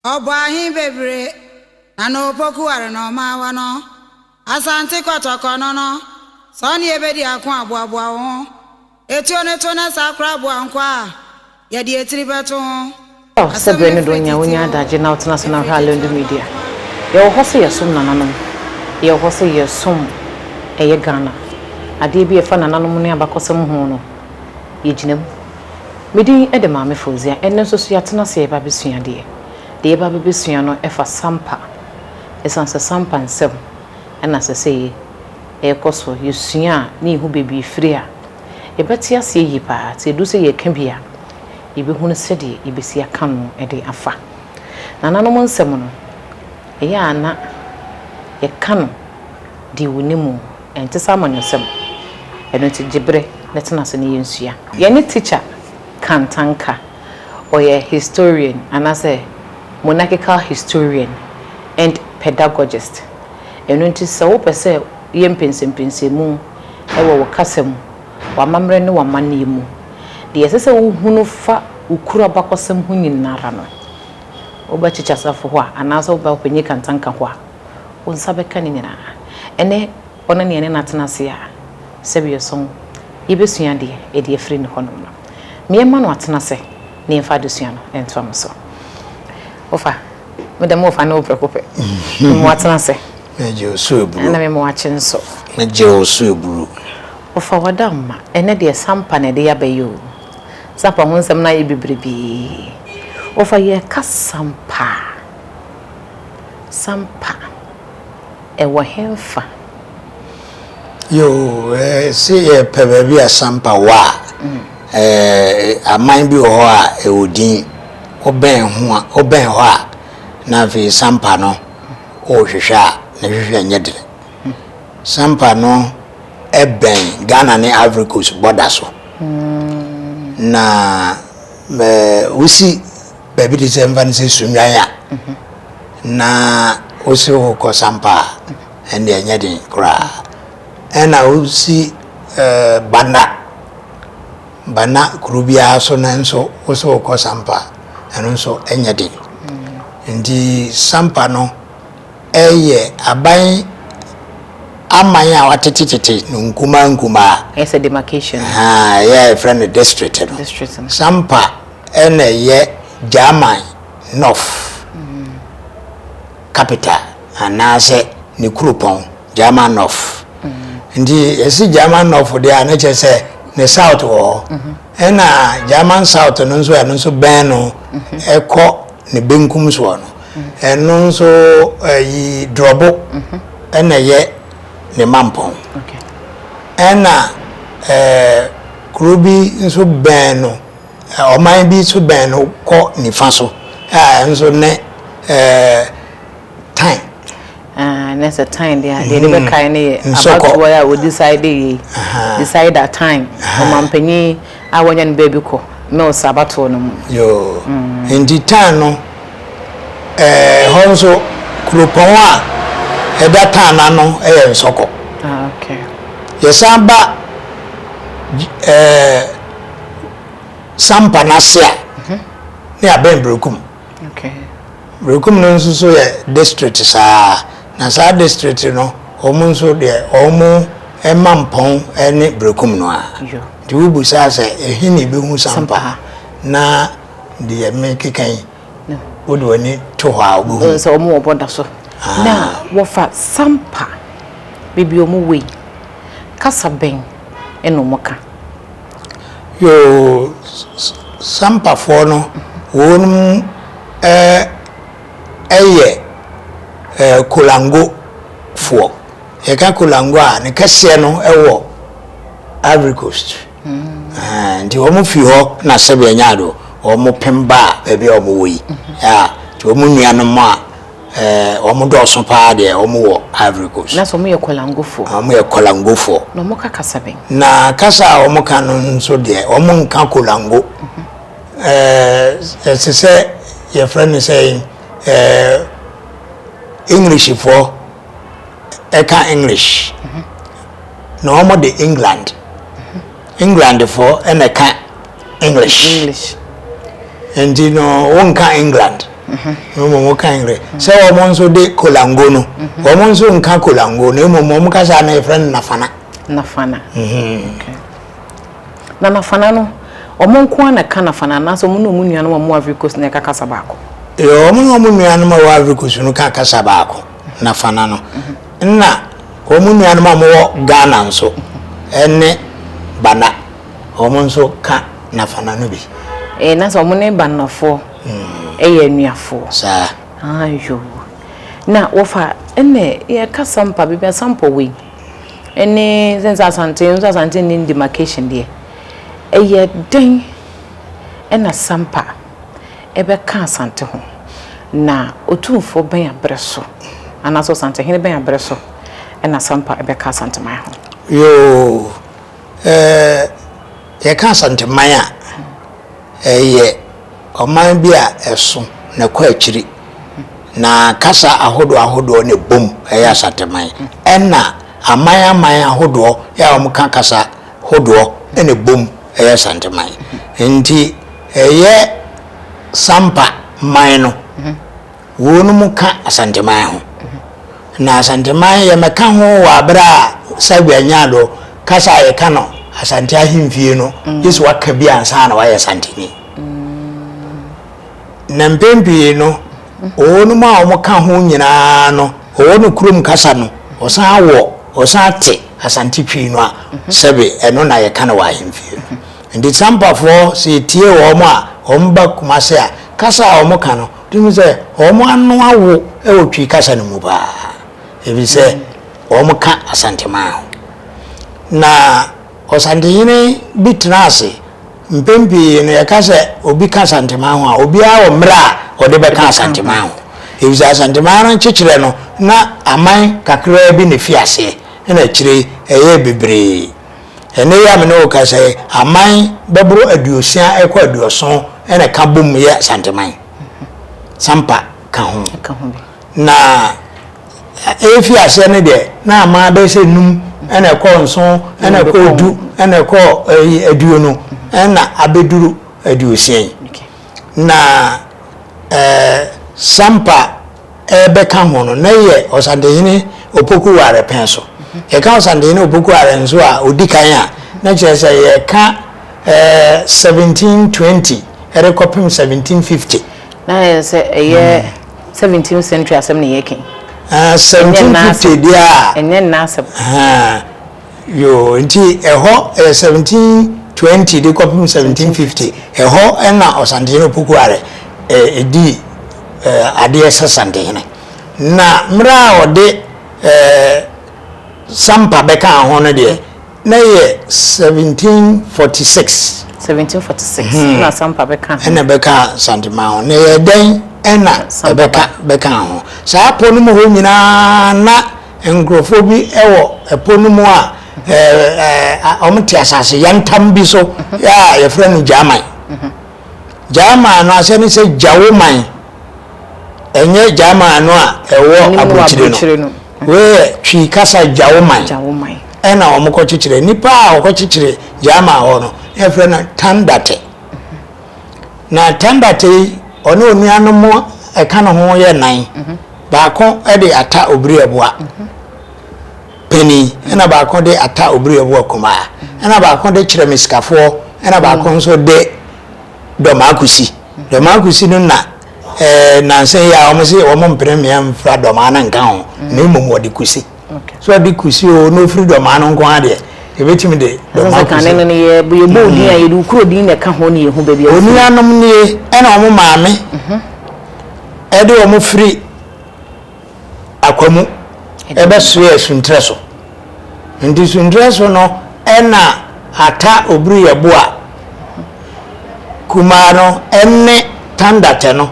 Ɔbɔ ahe bebire na na opoku ware na ɔma awa no? Asante kɔtɔkɔ no no, sɛ ɔne yɛ bɛdi ako a, boaboa wo ho. Etuo no to na saa koraa boa nkwa a yɛde etiri bɛto ho. Ɔɔ sɛ Asɛm berɛ no no firi donya tete wonya oo, adagye na wotena so na ɛfiri wohwɛ Alendo tete oo. Media. Yɛwɔ hɔ sɛ yɛsom nananom. Yɛwɔ hɔ sɛ yɛsom ɛyɛ Ghana. Adeɛ bi a ɛfa nananom ne abakɔsɛm ho no, yɛgyina mu. Me din de Maame Fauziah. Ɛnnɛ nso so yɛatena ase reba abɛsua adeɛ. Deɛ yɛreba abɛbɛsua no fa sampa. Ɛsiane sɛ sampa nsɛm na ɛsɛ sɛ yɛkɔ so yɛsua a, na yɛhu baabi a ɛfiri a, yɛbɛte aseɛ yie pa ara. Nti ɛduru sɛ yɛreka bi a, yɛbɛhunu sɛdeɛ yɛbɛsi aka ano de afa. Nananom nsɛm no, ɛyɛ a na yɛka no deɛ wɔnim. Ɛnte sɛ amanyɔsɛm. Ɛno nti gye bere na tena ase na yɛnsua. Yɛne Teacher Kantang ka. Ɔyɛ historian anaasɛ monarchical historian and pedagogist. Ɛno nti sɛ wopɛ sɛ woyɛ mpɛnsɛmpɛnsɛmu wɔ wo kasa mu, w'amammerɛ ne w'amanneɛ mu, deɛ ɛsɛ sɛ wohunu fa wo kuro abakɔsɛm ho nyinara no, wobɛ Teacher Safo hɔ a anaasɛ wobɛ Ɔpanyin Kantang hɔ a, Wo nsa bɛka ne nyinaa. Ɛnnɛ, ɔne nea ɛne no atena ase a, sɛbeɛ so yɛbɛsua adeɛ ɛde afiri ne hɔnom no, ma yɛmma no atena ase na yɛmfa adesua no ntoa no so. Wofa, me deɛ mofa no prɛko pɛ. Mema wo atena ase. Megye wo so aburo. Ɛna mema wo akye nso. Megye wo so aburo. Wofa, w'adamma, ɛnnɛ deɛ sampa na ɛde aba yi o. Sampa ho nsɛm no ayɛ bebrebe. Wofa, yɛreka sampa. sampa ɛwɔ henfa? Yoo, se yɛpɛ baabi a sampa wɔ a, aman bi wɔ hɔ a ɛwɔ din, wobɛn ho a, wobɛn hɔ a na afei sampa no worehwehwɛ a, ne hwehwɛ nyɛ den. Sampa no bɛn Ghana ne Ivory Coast bɔda so, na wosi. Baabi te sɛ mfa no sɛ Sunnwan a na wosere wo kɔ Sampa a, ɛnde ɛnyɛ den koraa. Ɛna wosi Bana, Bana kuro biara so no nso wosere wo kɔ Sampa a, ɛno nso ɛnyɛ den. Nti Sampa no ɛyɛ aban aman a watetetete no nkumaa nkumaa. Ɛyɛ sɛ demarcation. Ɛyɛ a yɛfrɛ no district no. Sampa na ɛyɛ German North capital anaasɛ ne kuropɔn German North nti ɛsi German North deɛ a na kyerɛ sɛ ne south wɔ hɔ ɛna German South no nso ɛno nso bɛn no ɛkɔ ne benkum soɔ no ɛno nso ɛyi dorɔbo ɛna ɛyɛ ne mampɔn ɛna ɛɛ kuro bi nso bɛn no. Ɔman bi nso bɛn no kɔ nifa so, a ɛno nso ne Tan. Ah, na sɛ Tan deɛ a, deɛ de bɛkae no yɛ abatoɔ yi a wɔdecide yei, decide a Tan, ɔmanpanin a wɔanya no baabi kɔ Mills abatoɔ no mu. Yoo, enti Tan no, ɛhɔ nso kuropɔn a ɛda Tan ano yɛ Nsɔkɔ. Ah, okay. Yɛsan ba ɛɛ. sampa no ase a ne abɛn Berekum. Berekum no nso so yɛ district saa na saa district no wɔn nso deɛ wɔn ɛma mpɔn ne Berekum no a nti wobu saa sɛ ɛhe na ɛbɛhu sampa na deɛ mekeka yi wode w'ani to hɔ a wobɛhu sɛ wɔn wɔbɔ da so ah. na wɔfa sampa baabi wɔn wɔ yi kasa bɛn ɛna wɔn ka Yoo, Sampafoɔ no wɔnom yɛ Kolango foɔ. Yɛka Kolango a ne kɛseɛ no wɔ Ivory Coast. Nti wɔn firi hɔ na sɛbi ɛnya do wɔn pem baa baabi a wɔn wɔ yi. Nti wɔn nuanom a. Eh, wɔn dɔɔso paa deɛ, wɔn wɔ Ivory Coast. Na sɛ wɔn yɛ kɔlangofoɔ. Wɔn yɛ kɔlangofoɔ. Na wɔn ka kasa bɛn? Na kasa a wɔn ka no nso deɛ, wɔn nka kolango. Eh, ɛte sɛ yɛfrɛ no sɛ eh, Englishfoɔ ɛka English. Na wɔn de England. Englandfoɔ na ɛka English. English. Nti no wonka England. Na mmom woka English. Sɛ wɔn nso de kolango no, wɔn nso nka kolango na mmom wɔn kasa no yɛfrɛ no nafana. Nafana. Na nafana no, wɔn nko ara na ɛka nafana anaasɛ wɔn na wɔn nuanom a wɔn wɔ Ivory Coast na ɛka kasa baako? Wɔn na wɔn nuanom a wɔwɔ Ivory Coast no ka kasa baako. Nafana no. Nna hɔn nuanom a wɔwɔ Ghana nso ne Bana, hɔn nso ka Nafana no bi. Ee, na sɛ wɔn ne Banafoɔ yɛ anuafoɔ. Saa. Aa yoo. Na wɔfa ɛnɛ yɛka Sampa baabi a Sampa wɔ yi ne sɛ nsɛ Asante nso Asante nni demarcation deɛ ɛyɛ dɛn ɛna Sampa. bɛka Asante ho, na otumfoɔ bɛn aberɛ so, anaasɛ ɔsantehene bɛn aberɛ so na Asampa bɛka Asanteman ho? Yoo, eh, yɛka Asanteman a, ɛyɛ ɔman bi a ɛso na ɛkɔ akyiri, na kasa ahodoɔ ahodoɔ na ɛbom yɛ Asanteman, ɛna aman aman ahodoɔ a wɔka kasa hodoɔ na ɛbom yɛ Asanteman. Nti. Ɛyɛ Sampa man no, wonom ka Asanteman ho, na Asanteman yɛmɛka ho wɔ aberɛ a Sagua nyaa do kasa a yɛka no Asante Ahemfie no gye sɛ waka bi ansa na wayɛ Santeni. Na mpɛn pii no wɔnom a wɔka ho nyinaa no wɔwɔ no kurom kasa no wɔsan wɔ wɔsan te Asante Twi no a sɛbe ɛno na yɛka no wɔ Ahemfie no. Enti Tsampafɔɔ sɛ etie wɔn a wɔn ba Kumase a, kasa a wɔn ka no, wotumi hu sɛ wɔn ano awo wɔ Twi kasa no mu paa, efisɛ wɔn ka Asanteman ho. Na Ɔsantehene bi tena ase, mpɛn pii no yɛka sɛ obi ka Asanteman ho a, obiara wɔ mmerɛ a ɔde bɛka Asanteman ho, efisɛ Asanteman no nkyekyerɛ no na aman kakraa bi na efi aseɛ, ɛna akyire yi ɛyɛɛ bebree. Ɛnnɛ yi a me ne wo rekasa yi, aman bɛboro aduosia rekɔ aduɔson na ɛka bom yɛ Asanteman. Sampa ka ho. Na ɛrefi aseɛ no deɛ, na aman bɛyɛ sɛ num na ɛkɔ nson na ɛkɔ du na ɛkɔ aduonu na abɛduru aduosia yi. na ɛɛ Sampa ɛɛbɛka ho no, na ɛyɛ Ɔsantehene Opoku Ware pɛn so. Yɛka Ɔsantehene Opoku Ware nso a, ɔdi kan a, na kyerɛ sɛ yɛreka ɛɛ 1720 ɛrekɔpem 1750. Na ɛyɛ sɛ ɛyɛ 17th century asɛm na yɛreka yi. Ɛɛ 1750 deɛ a. Ɛnyɛ nnɛ asɛm. Ɛhɛn. Yoo, nti ɛhɔ yɛ seventeen twenty de kɔpem seventeen fifty, ɛhɔ na Ɔsantehene Opoku Are dii adeɛ sɛ Santehene. Na mmerɛ a ɔde Sampa bɛkaa ho no deɛ, na ɛyɛ seventeen forty six. Seventeen forty six na Sampa bɛkaa ho. Ɛna ɛbɛkaa Santeman ho. Na ɛyɛɛ dɛn na ɛbɛka bɛkaa ho? Saa pɔ no mu hɔ nyina ara na. Nkurɔfoɔ bi wɔ po no mu a wɔte asase yantam bi so a yɛfrɛ no Gyaman. Gyaman no aseɛ ne sɛ Gyawoman. Ɛnyɛ Gyaman no a ɛwɔ aburokyire no. Wei yɛ Twi kasa Gyawoman. Ɛna wɔkɔkyekyerɛ. Nnipa a wɔkɔkyekyere Gyaman hɔ no, na yɛfrɛ no Tandate. Na Tandate yi, ɔne onuanom ɛka ne ho yɛ nan. Baako de ata obiriaboa panin, ɛna baako de ata obiriaboa kumaa, ɛna baako de kyerɛ me sikafoɔ, ɛna baako nso de dɔmaa kusi. Dɔmaa kusi no na ɛɛ nansa yi a wɔn se wɔn mpere mmea mfira dɔmaa no nka ho, na mmom wɔde kusi. so ɔde kusi o na ofiri dɔmaa no nko ara deɛ yɛbɛtumi de dɔmaa kusi. no no yɛ yɛbɔ odin a mm. yɛde okuro din na ɛka ho ne yɛhu baabi a ofiri. onuanom nie ɛna wɔn maame mhm. ɛde wɔn firi akwamu ɛbɛsoɛ suntrɛ so nti suntrɛ so no ɛna ata obiri yɛ bo a mhm. kumaa no ɛne tandatɛ no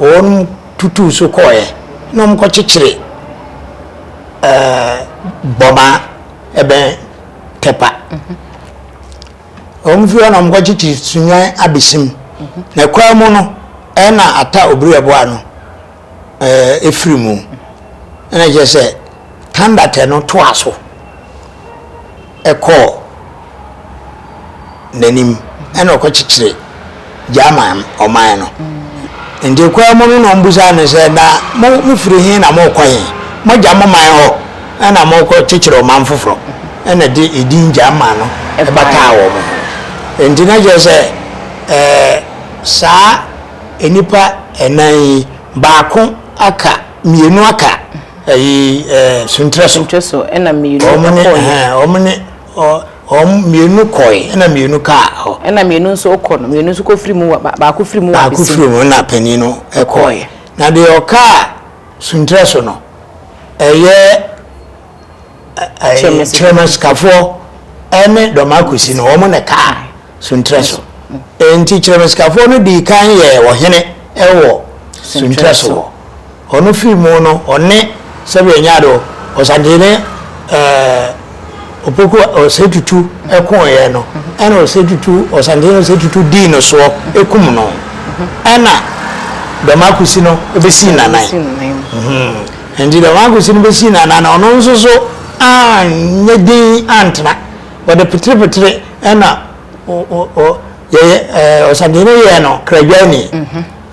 wɔn. tutuu so kɔeɛ na wɔkɔkyekyere ɛɛ bɔma ɛbɛn tɛpa wɔn fi hɔ na wɔkɔkyekyere sunyan abesim na kwan mu no ɛna ata obiri ɛboa no ɛɛ efiri mu ɛna kyerɛ sɛ. Tandate no toaa so kɔɔ n'anim na ɔkɔkyekyeree German ɔman no. Nti kwaa mu no na wɔbisaa no sɛ, Na mo mofiri he na morekɔ he? Moagya mo man hɔ na morekɔkyekyere ɔman foforɔ? Ɛna ɛde edin German no bataa wɔn ho. Nti na kyerɛ sɛ ɛɛ saa nnipa nnan yi, baako aka, mmienu aka. ɛyi ɛɛ suntrɛ so suntrɛ so ɛna mmienu kɔɔ yɛ wɔn ne wɔn mmienu kɔɛ ɛna mmienu kaa hɔ ɛna mmienu nso kɔ no mmienu nso kɔ firi mu wa baako firi mu wa baako firi mu na panyin no kɔɛ na deɛ ɔkaa suntrɛ so no ɛyɛ. kyerɛma sikafoɔ ne dɔm akosi no wɔn na ɛkaa suntrɛ so nti kyerɛma sikafoɔ no dii kan yɛ ɔhene wɔ suntrɛ so hɔ ɔno firi mu no ɔne sɛbi ɛnyado ɔsantene ɛɛ opoku ɔsɛ tutu ɛko yɛ no ɛna ɔsɛ tutu ɔsantene ɔsɛ tutu dii no soɔ ɛkum no ɛna dɔm akosi no ɛbɛsi nanan. Enti dɛm akosi no besii n'anan na ɔno nso so annyɛ dinn anntsena. Wɔdze petserepetere na yɛyɛ ɔsadze no yɛɛ no kradwaanyi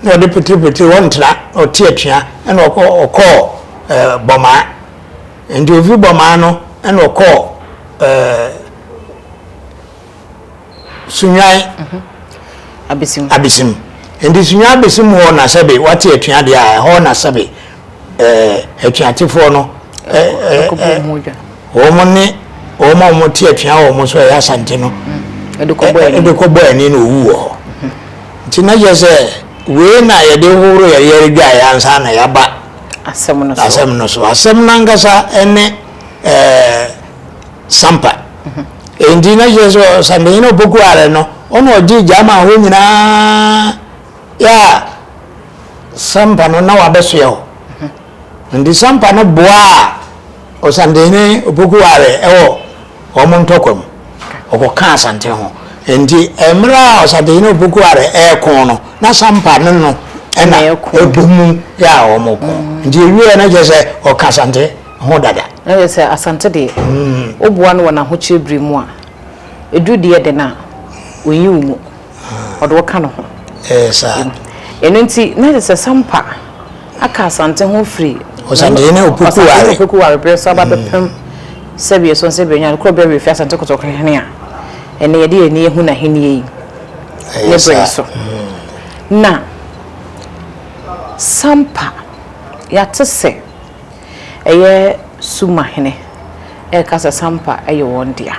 na ɔdze petserepetere wɔnntsena na ɔtse atua na ɔkɔɔ Bɔmaa. Enti ofi Bɔmaa no na ɔkɔɔ. Sunwan abesim. Abesim. Nti sunwan abesim hɔ na sɛbe wate atua deɛ a ɛhɔ na sɛbe ɛɛ atuatefoɔ no ɛɛ ɛɛ wɔn ne wɔn a wɔn te atua wɔn so ɛyɛ asante no ɛde kɔ bɔ ani na owu wɔ hɔ nti na yɛ sɛ wei na yɛde horo yɛde yɛde dwa yɛ ansa na yaba asɛm no so asɛm no so asɛm nankasa ɛne ɛɛ. Sampa. Enti na kyerɛ sɛ ɔsampanyin a ɔbɔku are no, ɔna ɔgye gya ma hɔ nyinaa yɛ a Sampa no na wabɛsoɛ hɔ. Nti Sampa no boaa ɔsampanyin ɔbɔku are wɔ wɔn ntɔkwa mu. Ɔkɔka Asante ho. Nti mmerɛ a ɔsampanyin ɔbɔku are ɛreko no, na Sampa no no ɛna ɛbɔ mu yɛ a wɔn ko. Nti ɛwieɛ na kyerɛ sɛ ɔka Asante. ho dada. Na kyerɛ sɛ Asante deɛ, woboa no wɔ n'ahokyerɛ berɛ mu a, ɛduru deɛ dɛn a, ɔnyi wo mu. Ɔde wo ka ne ho. Ɛyɛ saa. Ɛno nti, na kyerɛ sɛ Sampa aka Asante ho firi. Ɔsantehene Opoku ware. Ɔsantehene Opoku ware berɛ so aba bɛpem sɛdeɛ Sonse Benya, Kuro Bɛwɛ firi Asante Kotoko hene a ɛnnɛ yɛde yɛn ani ahu n'ahennie yi ne berɛ so. Na Sampa, yɛate sɛ. ɛyɛ Suma hene reka sɛ Sampa yɛ wɔn dea.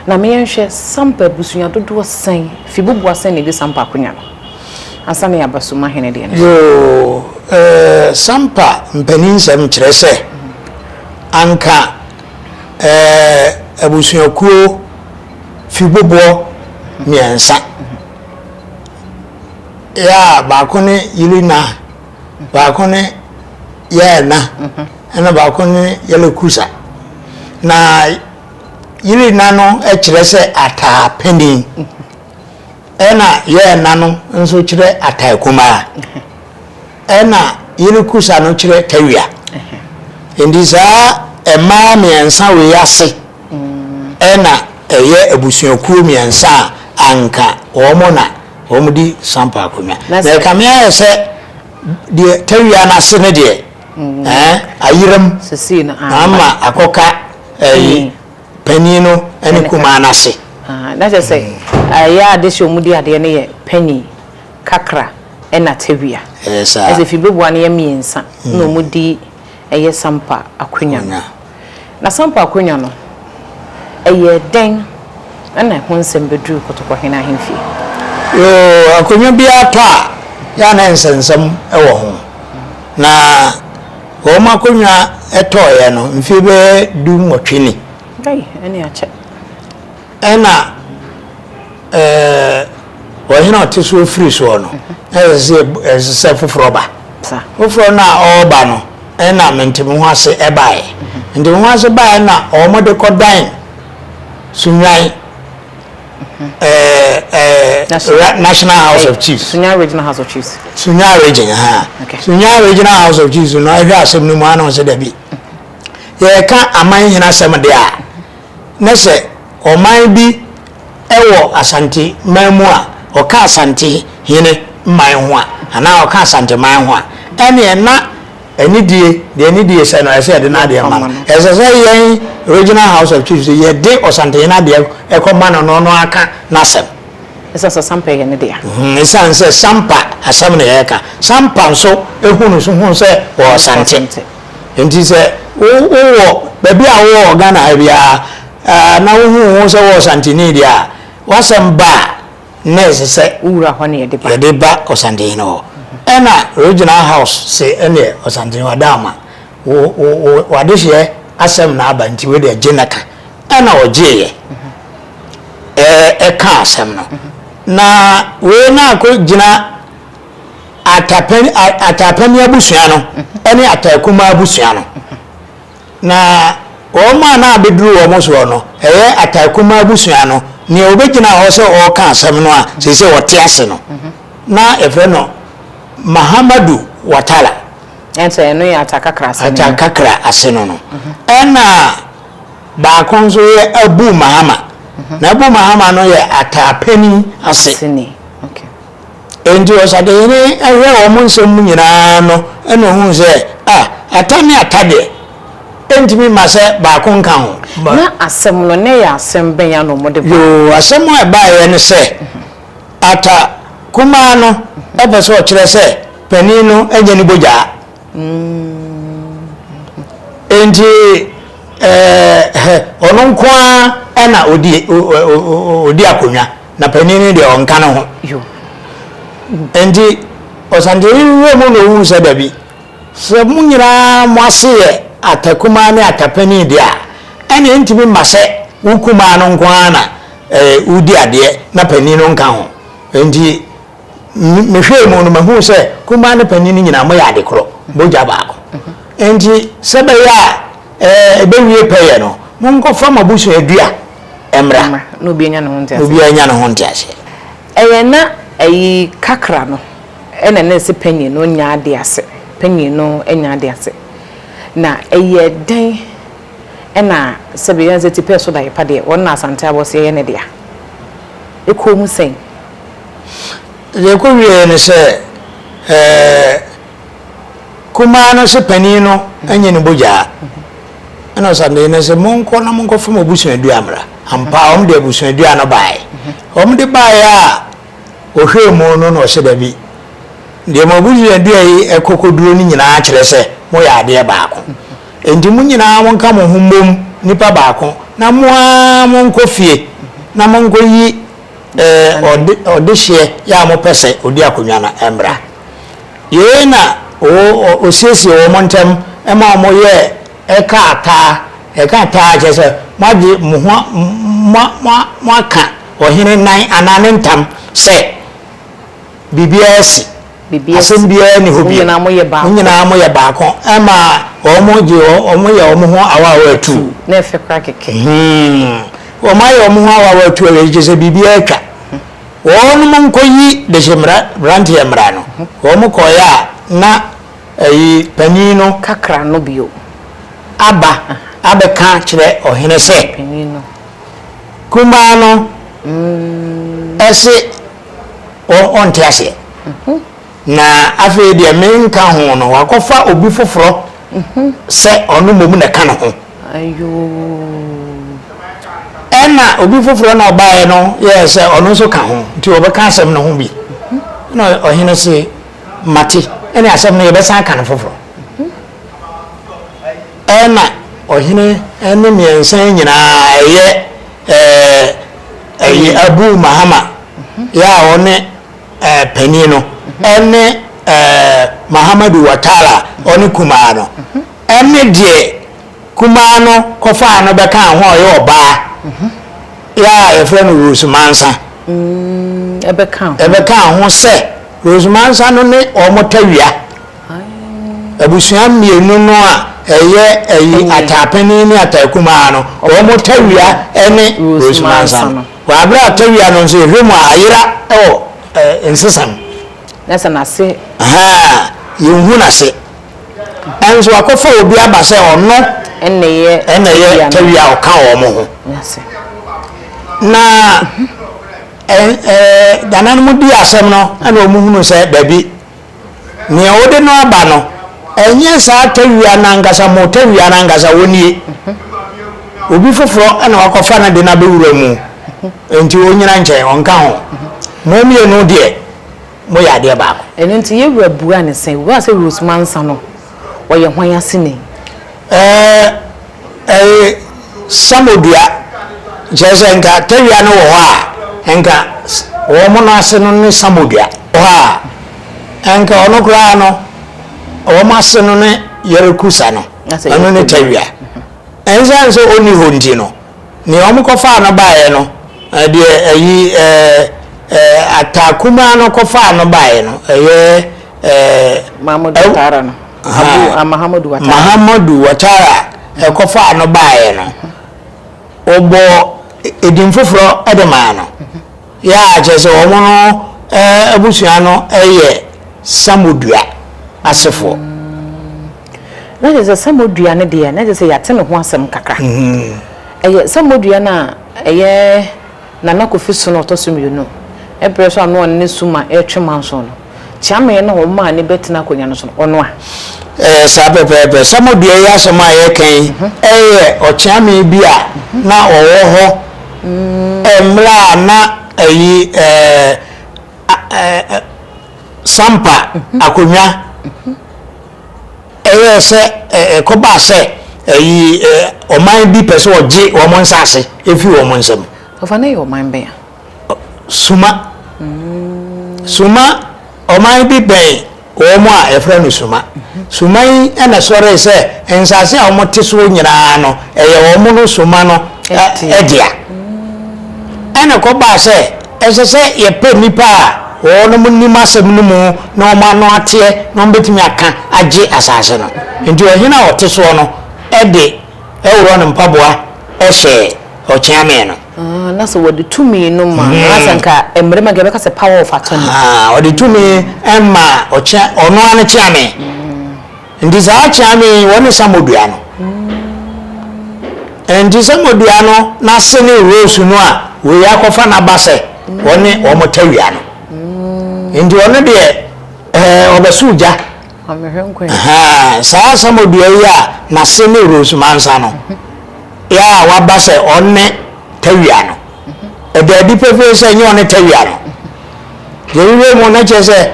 Na ma yɛnhwɛ Sampa abusua dodoɔ sɛn fi buboa sɛn na ɛdi Sampa akonya no ansa na yɛaba Suma hene deɛ no so. Yoo, eh, Sampa mpaninsɛm kyerɛ sɛ anka eh, abusuakuo fi buboɔ mmiɛnsa. Ya, baako ne Yilina Baako ne Yairna, ɛnna baako ne Yalekusa. Na Yirina no kyerɛ sɛ ataa panin, ɛnna Yairna no nso kyerɛ ataa kumaa, ɛnna Yalekusa no kyerɛ tawia. Enti saa mmaa mmiɛnsa wei ase. Ɛna ɛyɛ abusuakuo mmiɛnsa a anka wɔn na wɔdi Sampa akonnwa. Na ɛkame ayɛ sɛ deɛ Tawia no ase no deɛ ayeram ama akɔka ɛyi panin no ne kumaa no ase. Na kyerɛ sɛ ɛyɛ a dese wɔn di adeɛ no yɛ panin, Kakra ɛna Tawia. Ɛyɛ saa. Ɛsɛ Fibebua no yɛ mmiɛnsa na wɔn di. ɛyɛ Sampa Akwanya no. Na Sampa Akwanya no, ɛyɛɛ dɛn na ɛho nsɛm bɛduruu Kotokɔhene ahemfie? Yoo, akwanya biara tɔ a, yɛ a na nsɛnsɛm wɔ ho. Na wɔn akwanya tɔeɛ no, mfeɛ bɛyɛ du nwɔtwe ni. Ei, ɛnneɛ akyɛ. Ɛna ɛɛ ɔhene a ɔte so firi soɔ no na ɛsɛ sɛ yɛb- ɛsɛ sɛ foforɔ ba Sa. foforɔ no a ɔreba no ɛna mente me ho ase ɛbaeɛ mente me ho ase baeɛ na wɔde kɔdan sunwan ɛɛ ɛɛ National- ra- national house of chiefs Sunya Regional House of Chiefs. Sunya region ha Okay. Sunya regional house of chiefs no ɛhwɛ asɛm no mu ana ɔsɛ dabi yɛka aman nyina asɛm de a na sɛ ɔman bi wɔ Asante man mu a, ɔka Asante hene man ho a, anaa ɔka Asante man ho a, ɛneɛ na anidie, deɛ anidie sɛ no, ɛsɛ sɛ yɛde n'adeɛ ma no. Ɛsɛ sɛ yɛn Regional House of Chiefs no, yɛde Ɔsantehene adeɛ kɔma no na ɔno aka n'asɛm. Ɛsiane sɛ Sampa yɛ ne dea. Ɛsiane sɛ Sampa asɛm na yɛreka. Sampa nso hunu so hunu sɛ ɔwɔ Asante. Enti sɛ wo wo wɔ baabi a wo wɔ Ghana ha biara ɛɛ na wo hu wo ho sɛ wo Ɔsantini deɛ a, w'asɛm ba a na ɛsɛ sɛ yɛde ba Ɔsantini no hɔ. Ɛna Regional House se ɛneɛ Ɔsantini w'ada ama wo wo wo w'adehyeɛ asɛm na aba nti wei deɛ gye na ka. Ɛna ɔgyeeɛ ɛɛ ɛkaa asɛm no. Na wei na akɔ gyina. Atapɛn a Atapɛne abusua no ne Ataakuma abusua no. Na wɔn a na abɛduru wɔn soɔ no, ɛyɛ Ataakuma abusua no, nea ɔbɛgyinaa hɔ sɛ ɔreka asɛm no a seesei ɔte ase no, na yɛfrɛ no Mahamadou Ouattara. Ɛnkyɛ ɛno yɛ Atakakra ase no. Atakakra ase no no. Ɛna baako nso yɛ Abou Mahama. Na Abou Mahama no yɛ Ataapɛni ase. Aseni. Okay. Enti ɔsadehene hwɛɛ wɔn nsɛm mu nyina ara no na ɔhuu sɛ, a, ata ne ata deɛ, ɛntumi mma sɛ baako nka ho. Na asɛm no, na ɛyɛ asɛm bɛn ara na wɔde baeɛ? Yoo, asɛm a ɛbaeɛ ne sɛ, ata kumaa no pɛ sɛ ɔkyerɛ sɛ panin no nyɛ ne bogyaa. Enti ɛɛ, ɔno nko ara na ɔdi akonnwa. na panin no deɛ ɔnka ne ho. Enti ɔsankyeni no werɛ mu na ɔhuu sɛ dabi, sɛ mo nyinaa mo ase yɛ atakumaa ne atapanin deɛ a, ɛnneɛ ɛntumi mma sɛ wo kumaa no nko ara na wodi adeɛ na panin no nka ho. Enti mehwɛɛ mu no, mahunu sɛ kumaa ne panin no nyinaa moyɛ ade korɔ, mogya baako. Enti sɛ ɛbɛyɛ a ɛbɛwie pɛyɛ no, monkɔfa mo abusuadua mmra, na obiara nya ne ho nteaseɛ. Na obiara nya ne ho nteaseɛ. Ɛyɛ na ayi kakra no na ɛne sɛ panyin no nya ade ase, panyin no nya ade ase. Na ɛyɛ dɛn na sɛbe yɛn sɛ tipɛɛ so daepa deɛ, wɔn na Asante Abɔseɛ yɛ ne dea. Ɛkɔɔ mu sɛn? Deɛ ɛkɔwieeɛ ne sɛ, ɛɛ. kumaa no se panin no nyɛ ne bogyaa. Ɛna ɔsandee no se, Monkɔ na monkɔfa mo abusuadua mmra. Ampa ara wɔde abusuadua no baeɛ. Wɔde baeɛ a, ɔhwɛɛ mu no na ɔse, Dabi, deɛ mo abusuadua yi kɔ kɔduro no nyinaa kyerɛ sɛ moyɛ adeɛ baako. Enti mo nyinaa monka mo ho mmom nipa baako na mo ara monkɔ fie na monkɔyi ɔdehyeɛ yɛ a mopɛ sɛ ɔdi akonnwa no mmra. Yei na ɔsiesiee wɔn ntam ma wɔyɛɛ kaa taa. Ɛka taa kyerɛ sɛ moagye mo ho moaka ɔhene nan anaa ne ntam sɛ biribiara asi, asɛm biara nni hɔ bio, mo nyinaa moyɛ baako. Ɛma wɔyɛ wɔn ho awaawa atuu. Wɔayɛ wɔn ho awaawa atuu awie no, kyerɛ sɛ biribiara atwa. wɔnom nkɔyi dehyeberanteɛ mmra no, wɔn kɔeɛ a na ɛyi panin no kakra no bio aba abɛka kyerɛ ɔhene sɛ kumaa no se ɔnte aseɛ. Na afei deɛ menka ho no, wakɔfa obi foforɔ sɛ ɔno mmom na ɛka ne ho. Ɛna obi foforɔ na ɔbaeɛ no yɛɛ sɛ ɔno nso ka ho, nti wɔbɛka asɛm no ho bi. Na ɔhene se, Mate, ɛne asɛm no yɛbɛsan aka no foforɔ. Ɛna ɔhene ne mmiɛnsa nyinaa ɛyɛ ɛɛ ɛyɛ Abu Mahama yɛ a ɔne panin no ne Mahamadou Ouattara a ɔne kumaa no ne deɛ kumaa no kɔfaa no bɛkaa ho a ɔyɛ ɔbaa yɛ a yɛfrɛ no Rose Mansa ɛbɛkaa ho sɛ Rose Mansa no ne wɔn tawia abusua mmienu no a ɛyɛ ɛyi ataapanin ne ataakumaa no wɔn tawia ne Rose Mansa no. Wɔ abere a tɔwia no nso yɛhwɛ mu a ayera wɔ nsesa mu. Na sɛ n'ase. Ahaa, yɛnhu n'ase. Nso wakɔfa obi aba sɛ ɔno. Ɛnɛyɛ tɔwia a ɔka wɔn ho. Na ɛɛ dananom di asɛm no ɛna wɔn hunu sɛ dabi Nea wode no aba no, ɛnyɛ saa tawia no ankasa, mo tawia no ankasa, onnie. Obi foforɔ na wakɔfa no de no abɛwura mu. Enti ɔnnyina nkyɛn, ɔnka ho. Mo mmienu deɛ, moyɛ adeɛ baako. Ɛno nti, yɛn wura buaa no sɛ, Wura sɛ Rose Mansa no, ɔyɛ hwan aseni? Ɛɛ. Ɛyɛ sabo dua, kyerɛ sɛ nka tɛwia no wɔ hɔ a, nka wɔn mono ase no ne sabo dua. Wɔ hɔ a, nka ɔno koraa no, wɔn ase no ne yɛrekusa no, ɛno ne tɛwia. Ɛnsan sɛ ɔnni hɔ nti no, nea wɔn kɔfaa no baeɛ no, deɛ ɛyi ataa kumaa no kɔfaa no baeɛ no, ɛyɛ. Mahmoud Tara no. a Mahamudu Watara kɔfaa no baeɛ no, wɔbɔɔ edin foforɔ de maa no. Yɛ a kyerɛ sɛ wɔn no abusua no yɛ Samodua asefoɔ. Na kyerɛ sɛ Samodua no deɛ, na kyerɛ sɛ yɛate ne ho asɛm kakra. Ɛyɛ Samodua no a ɛyɛ Nana Kofi Sona ɔtɔ so mmienu. Ɛberɛ so a na ɔne Suma retwe manso no. kyeamee na wɔn maa no bɛtena akonnwa no so no, ɔno a. Ɛyɛ saa pɛpɛɛpɛ. Salmo dua yi asɛm a yɛreka yi yɛ ɔkyeamee bi a na ɔwɔ hɔ mmerɛ a na ayi Sampa akonnwa yɛ sɛ ɛkɔbaa sɛ ayi ɔman bi pɛ sɛ ɔgye wɔn nsaase firi wɔn nsam. Ɔfa no yɛ ɔman bɛn a? Suma. Suma, ɔman bi bɛn wɔn a yɛfrɛ no Suma. Suma yi na sɔree sɛ nsase a wɔn te soɔ nyinaa no, ɛyɛ wɔn no Suma no dea. Ɛna kɔbaa sɛ, ɛsɛ sɛ yɛpɛ nnipa a wɔn nim asɛm no mu na wɔn ano ateɛ na wɔn bɛtumi aka agye asase no. Nti ɔhene a ɔte soɔ no de Ɛworon mpaboa hyɛɛ Ɔkyeame no. Ah, na sɛ wɔde tumi no ma no asɛ hmm. nka mmarima nka bɛka sɛ power of attorney. Ah, wɔde tumi ɛma ɔkyea ɔno ano kyea me. Hmm. Nti saa kyea me wɔne samodua no. Hmm. Nti samodua no n'ase ne rose no a wɔyi akɔfa n'aba sɛ wɔne wɔn tawia no. Nti ɔno deɛ ɛɛ ɔbɛso gya. Ma me hwɛ nkwa yi. Ahaa, saa asamodua yi a n'ase ne Rose Mansa no, a waba sɛ ɔne Tawia no, ɛda adi pefee sɛ ɛnyɛ ɔne Tawia no. Yɛhwehwɛɛ mu no, na kyerɛ sɛ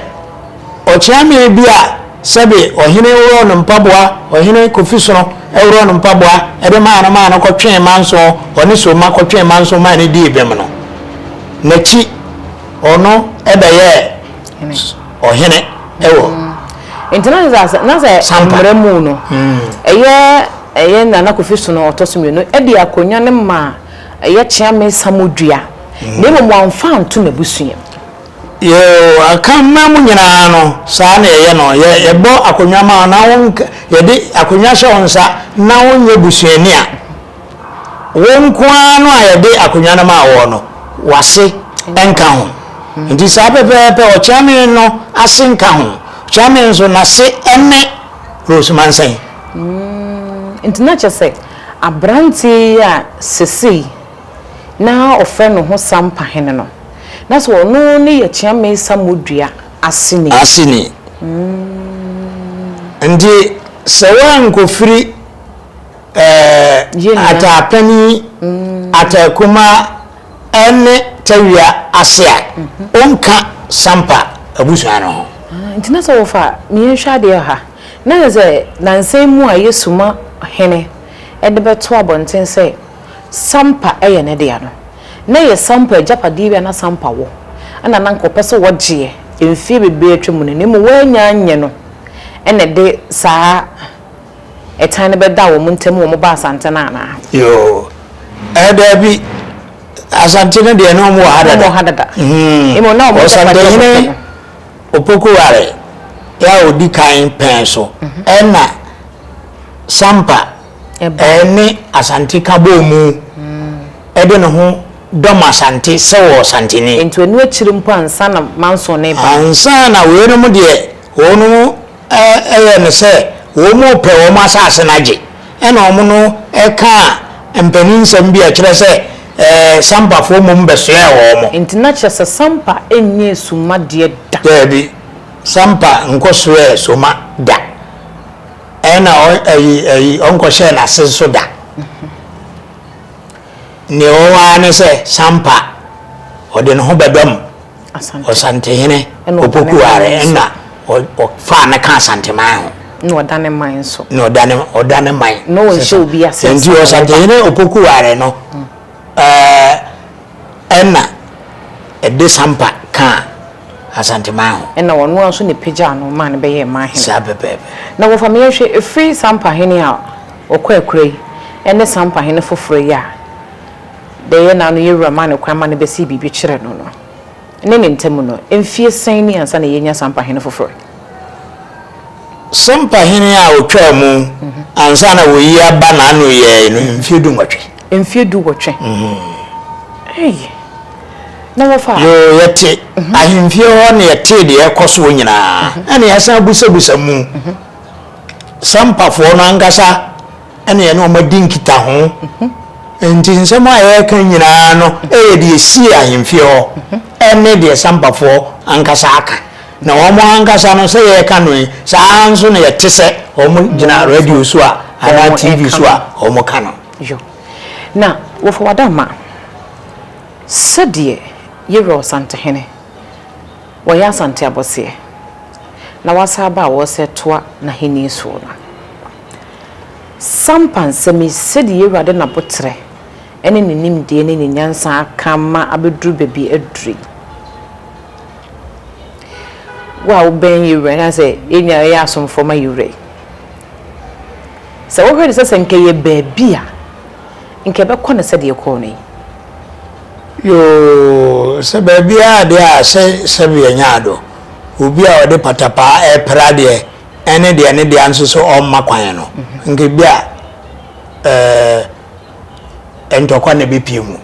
ɔkyeame bi a sɛbe ɔhene worɔɔ no mpaboa, ɔhene Kofi Sono worɔɔ no mpaboa de maa no maa no kɔtwee Manso, ɔne Somma kɔtwee Manso maa no dii bem no, n'akyi ɔno bɛyɛɛ. Hene. Ɔhene wɔ. Nti na sɛ asɛ na sɛ mmerɛ mu no ɛyɛ ɛyɛ Nana Kofi Sono ɔtɔ so mmienu de akonnwa no maa ɛyɛ Kyeame Samodua na mmom wamfa anto n'abusua mu. Yɛwɔ Akanman mu nyinaa no saa na yɛyɛ no yɛ yɛbɔ akonnwa ma wo na wo yɛde akonnwa hyɛ wo nsa na wonyɛ busuani a. Wo nko ara no a yɛde akonnwa no maa woɔ no, w'ase nka ho. Nti saa pɛpɛɛpɛ, ɔkyeame no ase nka ho. Ɔkyeame nso, n'ase ne Rose Mansain. Mm, nti na kyɛ sɛ aberanteɛ yi a sesei na ɔfrɛ ne ho Sampa hene no, na sɛ ɔno ne yɛ Kyeame Samodua aseni. Aseni. Mm. Nti sɛ woankɔfiri Ɛɛ Ataapɛni, mm. Ataakuma ɛne Tawia ase a ɔnka mm-hmm. Sampa abusua no ho. Ah, nti na sɛ wɔfa meyɛnhwɛ adeɛ ha na yɛ sɛ nansan mu a yɛ suma hene ɛde bɛto abɔnten sɛ Sampa ɛyɛ ne dea no na yɛ Sampa agyapadeɛ bi a na Sampa wɔ ɛna na nkɔpɛ sɛ wɔgyeɛ mfie bebree atwa mu no na mmom wɔanya nyɛ no ɛna de saa Ɛtan no bɛda wɔn ntam wɔn ba Asante no anaa? Yoo. Ɛɛ daabi. Asante no deɛ na wɔn wɔ ha dada. Wɔn wɔ ha dada. Mmom na wɔn agyapadeɛ wɔ Ɔsantehene fam. Opokuware a ɔdi kan pɛn so na Sampa ne Asante ka bɔɔ mu de ne ho dɔm Asante sɛ ɔwɔ Santene. Nti ɛno akyiri mpo ansa na Manson reba no. Ansa na weinom deɛ wɔn Ɛyɛ no sɛ wɔrepɛ wɔn asase no agye, ɛna wɔn no kaa mpanin nsɛm bi a ɛkyerɛ sɛ Sampafoɔ mmom bɛsoɛɛ wɔn. Enti na kyerɛ sɛ Sampa nnyɛɛ Soma deɛ da. Daabi, Sampa nkɔsoɛɛ Soma da, ɛna ɔnkɔhyɛɛ n'ase nso da. Deɛ ɔwɔ ara ne sɛ Sampa ɔde ne ho bɛdɔm. Ɔsantehene Opoku Are na ɔfaa no kaa Asanteman ho. Na ɔda ne man nso. Na ɔda ne ɔda ne man. Na ɔnhyɛ obi ase. Nti Ɔsantehene Opoku Are no ɛna ɛde sampa kaa Asanteman ho. Ɛna ɔno ara nso na ɛpagyaa no maa no bɛyɛɛ man hene. Saa pɛpɛɛpɛ. Na wɔfa me yɛnhwɛ ɛfiri sampa hene a ɔkɔ akura yi ɛne sampa hene foforɔ yi a bɛyɛ na anoyɛ wura ma no kwan ma no bɛsii biribi kyerɛ no no ne ne ntamu no, mfie sɛn ni ansa na yɛanya saa mpahene foforɔ yi? Sɛ mpahene a wɔtwaa mu ansa na wɔyi aba na ano yɛɛe no, mfie du nwɔtwe. Mfie du wɔtwe? Ei! Na wɔfa. Yoo, yɛte ahemfie hɔ na yɛtee deɛ ɛrekɔ soɔ nyinaa, ɛna yɛasan abusabusa mu. Sampafoɔ no ankasa. ɛne yɛne wɔn adi nkitaho nti nsɛm a yɛreka nyinaa no ɛyɛ deɛ ɛsie ahemfie hɔ ɛne deɛ sampafoɔ ankasa aka na wɔn ankasa no sɛ yɛreka no yi saa nso na yɛte sɛ wɔn gyina radio so a anaa tv so a wɔn ka no na wɔfa wada ma sɛdeɛ yɛwura ɔsantehene wɔyɛ asante abɔseɛ na wasa aba a wɔsɛ toa n'ahenni soɔ no Sampa nsɛm yi, sɛdeɛ y'Awurade n'aboterɛ ne ne nimdeɛ ne ne nyansa aka ama abɛduru baabi aduru yi. Wo a wobɛn y'Awura yi, anaasɛ yɛn nyinaa yɛyɛ asomfoɔ ma y'Awura yi, sɛ wohwɛ no sɛ sɛ nka ɛyɛ baabi a, nka ɛbɛkɔ no sɛdeɛ ɛkɔɔ no yi? Yoo, sɛ baabiara deɛ a, sɛ sɛbe yɛnyaa do, obi a ɔde patapaa ɛɛpra deɛ, ɛne deɛ ne dea nso sɛ ɔmma kwan no, nka ebi a ɛɛ ntɔkwa na ebepie mu.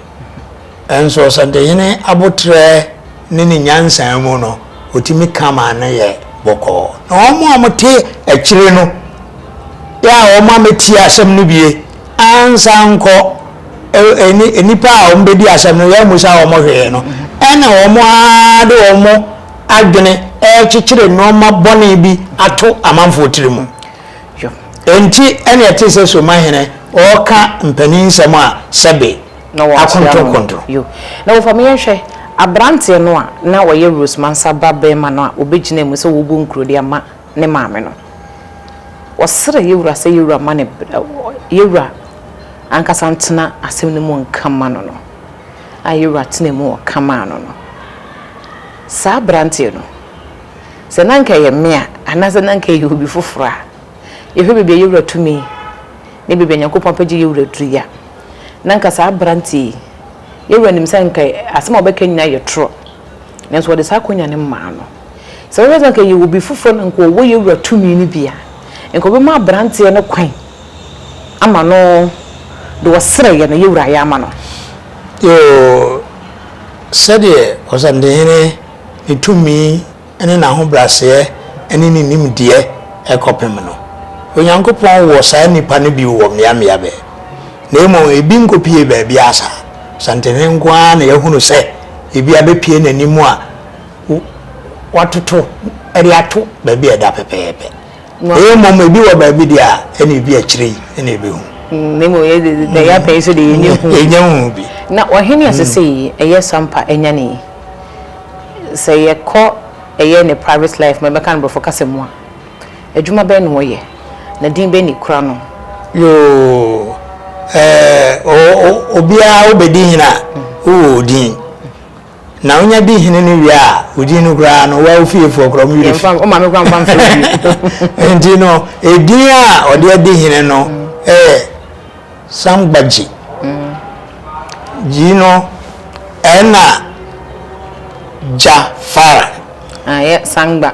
Nso Ɔsantehene aboterɛ ne ne nyansa mu no, otumi ka ma ano yɛ bɔkɔɔ. Na wɔn a wɔte akyire no, yɛ a wɔn ametie asɛm no bie ansa nkɔ ɛni nnipa a wɔbɛdi asɛm no, yɛ mmusa wɔn hwee no, ɛna wɔn ara de wɔn adwene rekyekyere nnoɔma bɔne bi ato amanfoɔ tiri mu. Enti ɛne ɛte sɛ Somahene ɔreka mpanin nsɛm a sɛbe akontonkonto. Na wɔfa me yɛnhwɛ aberanteɛ no a na ɔyɛ Rose Mansa ba barima no a ɔbɛgyinaa mu sɛ wɔbɔ nkuro de ama ne maame no. Wɔsrɛ yɛn Wura sɛ yɛn Wura ma no bere, yɛn Wura ankasa ntena asɛm no mu nka mma no no, a yɛn Wura tenaa mu ka maa no no. Saa aberanteɛ no, sɛ na anka ɛyɛ me a, anaasɛ na anka ɛyɛ obi foforɔ a, yɛhwɛ baabi a yɛn Wura tumi ne baabi a Nyankopɔn apɛgye yɛn Wura duru yi a, na anka saa aberanteɛ yi, yɛn Wura nim sɛ anka asɛm a ɔbɛka nyinaa yɛ torɔ, nanso ɔde saa akonya no maa no. Sɛ wobɛka sɛ anka ɛyɛ obi foforɔ na anka ɔwɔ yɛn wura tumi no bi a, anka ɔbɛma aberanteɛ no kwan ama no deɛ ɔsrɛeɛ no yɛn wura ayɛ ama no. Yoo, sɛdeɛ Ɔsɛmpdehene ne tumi ne n'ahobrɛaseɛ ne ne nimdeɛ kɔpem no, Onyankopɔn wɔ saa nnipa no bi wɔ mmeammea bɛɛ. Na mmom ɛbi nkɔpue baabiara saa. Ɔsɛmpdehene nko ara na yɛahunu sɛ ebia bɛpue n'anim a, wɔatoto de ato baabi a ɛda pɛpɛɛpɛ. Ɛyɛ mmom ebi wɔ baabi deɛ a ɛna ebi akyire yi ɛna ɛbɛhu. Mm, na mmom yɛ de na yɛ apɛn so de yɛ nyɛ hu. Ɛnyɛ hu bi. Na ɔhene a sese yi ɛyɛ sampa ɛnya ne yi. Sɛ yɛkɔ ɛyɛ ne private life ma ɛbɛka no borɔfo kasa mu a, adwuma bɛn na wɔyɛ na din bɛn na ekura no? Yoo, ɛɛ obiara wobɛdi hene a wowɔ odin. Na onya di hene no wie a, odin no koraa no, woa wo fiefoɔ koraa ɔmo werɛ fi. Yɛmfa, wo maame koraa mfa mfrɛ wo bio. Nti no, edin a ɔde adi hene no yɛ Sangbagyi. Gyi no, ɛna Gya Fara. Ayɛ Sangba.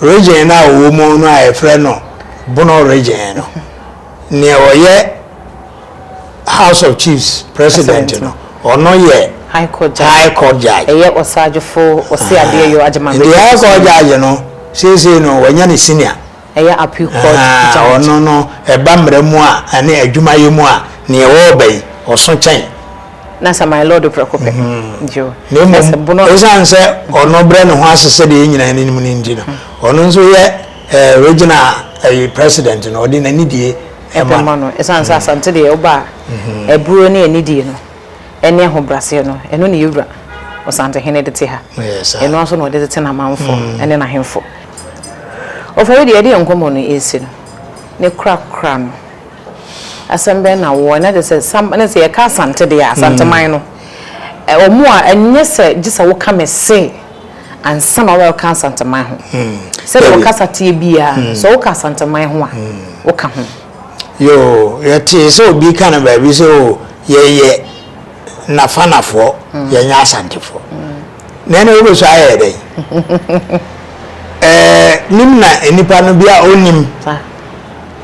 Region no a ɔwɔ mu no a yɛfrɛ no Bono Region no, nea ɔyɛ House of Chiefs President no, ɔno yɛ High Court Judge. High Court Judge. Ɛyɛ Osagyefo Oseadeɛyɔ Agyemang Nti Region High Court Supreme. Judge no, seesei no wɔanya no Senior. Ɛyɛ Appeal Court Ahaa, Judge. ɔno no, ɛba mmara mu a, ne adwumayɛ mu a, nea ɛwɔ ɔba yi, ɔso kyɛn. na sɛ my lord prɛko pɛ gye o na mmom ɛsiane sɛ ɔno brɛ ne ho ase sɛ deɛ yɛnyina no nim no nti no ɔno nso yɛ eh, regional eh, president no ɔde n'anidie ɛma no ɛsiane sɛ asante deɛ woba a mhm. aburo ne anidie no ɛne ahobraseɛ no ɛno ne yɛwura ɔsantehene de te ha ɛno nso na ɔde tete n'amanfo mm. ɛne n'ahemfo ɔfɔre deɛ ɛde nkɔmmɔ no ɛsi no ne korakora no Asɛm bɛn na wowɔ? Na gye sɛ sam ne sɛ yɛka Asante deɛ a, Asanteman no, ɛ, wɔn a ɛnyɛ sɛ gye sɛ woka me se ansa na wɔbɛka Asanteman ho. Sɛdeɛ Dabi. wɔkasa teɛ biara no, sɛ woka Asanteman ho a, woka ho. Yoo, yɛtee sɛ obi ka no baabi sɛ o, yɛyɛ Nafanafoɔ, yɛnyɛ Asantefoɔ. Na ɛnna wobɛsua ayɛ yɛ dɛn? Ɛɛ, nim na nnipa no bi a ɔnnim. Saa.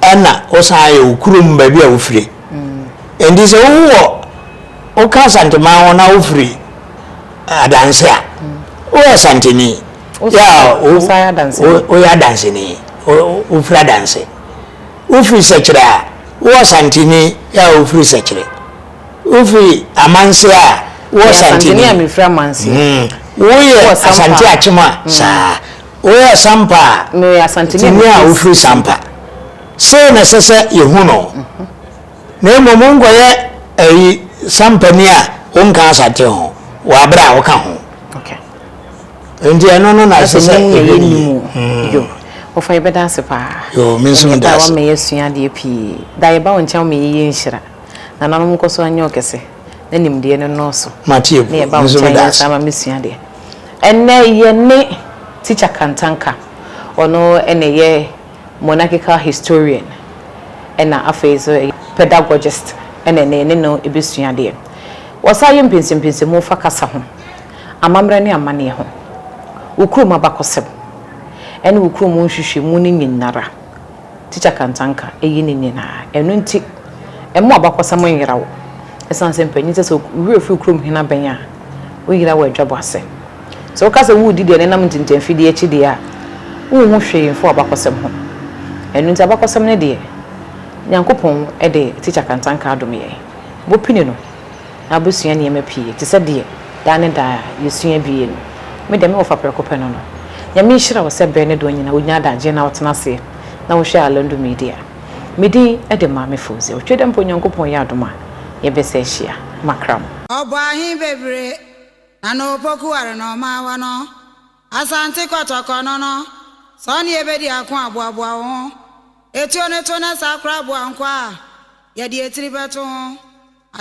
ɛna wosan ayɛ wo kurom baabi a wofiri nti sɛ wowɔ woka asanteman ho na wofiri adanse a woyɛ asanteni woyɛ adanseni wofiri adanse wofiri sɛkyerɛ a wowɔ santeni yɛ a wofiri sɛkyerɛ wofiri amanse a wowɔ santeni hmm. woyɛ asante akyem a hmm. saa Woyɛ Sampa a, Meyɛ Asanteni a tumi a mefiri wofiri Sampa. Sei na ɛsɛ sɛ yɛhu no. Na mmom wonkɔyɛ ayi Sampani a wonka Asante ho wɔ aberɛ a woka ho. Okay. Enti ɛno no na ɛsɛ sɛ Asanteni yɛyɛ yɛhwɛ no nim yie. o. Yo. Wɔfa yɛbɛda ase paa. Yo, me nso Ɛneɛ meda paa ase. wama yɛasua adeɛ pii. Da yɛba wo nkyɛn a woma yɛyɛ nhyira. Nananom nkɔ so nyɛ ɔkɛse. na nimdeɛ no nnɔɔso, na yɛba wo nkyɛn yɛ saa ma me sua deɛ. Ɛnnɛ yɛne Teacher Kantanka, ɔno na ɛyɛ Monarchical Historian ɛna afei nso Pedagogist ɛna ɛnnɛ yɛne no ɛbɛsua adeɛ. Wɔsan yɛ mpɛnsɛmpɛnsɛmu fa kasa ho, amammerɛ ne amaneɛ ho, wo kurom abakɔsɛm ɛne wo kurom nhwehwɛmu no nyinara. Tikya Kantanka, Eyi ne nyinaa. Ɛno nti, mma w'abakɔsɛm nnyera wo. Esiane sɛ mpanyin sɛ sɛ wo werɛ fi kurom hene abɛn a, woyera wɔ adwabɔ ase. Sɛ woka sɛ woredi deɛ ɛnenam ntintanfidie akyi deɛ a, wonhu hwee mfa w'abakɔsɛm ho. Ɛno nti abakɔsɛm no deɛ, Nyankopɔn de Tikya Kantanka adom yɛn. Bɔ pini no. Abusua nneɛma pii, te sɛ deɛ daa ne daa yɛsua bie no, me deɛ me wɔfa prɛko pɛ no no. Nyame nhyira wo sɛ berɛ ne doɔ nyinaa wonya adagyeɛ na wotena aseɛ na wohwɛ Alando Media. Me din de Maame Fauziah Otwe dɛ mpo Nyankopɔn yɛ adom a yɛbɛsa ahyia. Makra mo. Ɔbɔ ahe bebre na no opoku ware na ɔma awa no Asante kɔtɔkɔ no no sɛ ɔne yɛ bɛdi ako a boaboa wo ho Etuo no to na saa kora boa nkoa a yɛde etiri bɛto ho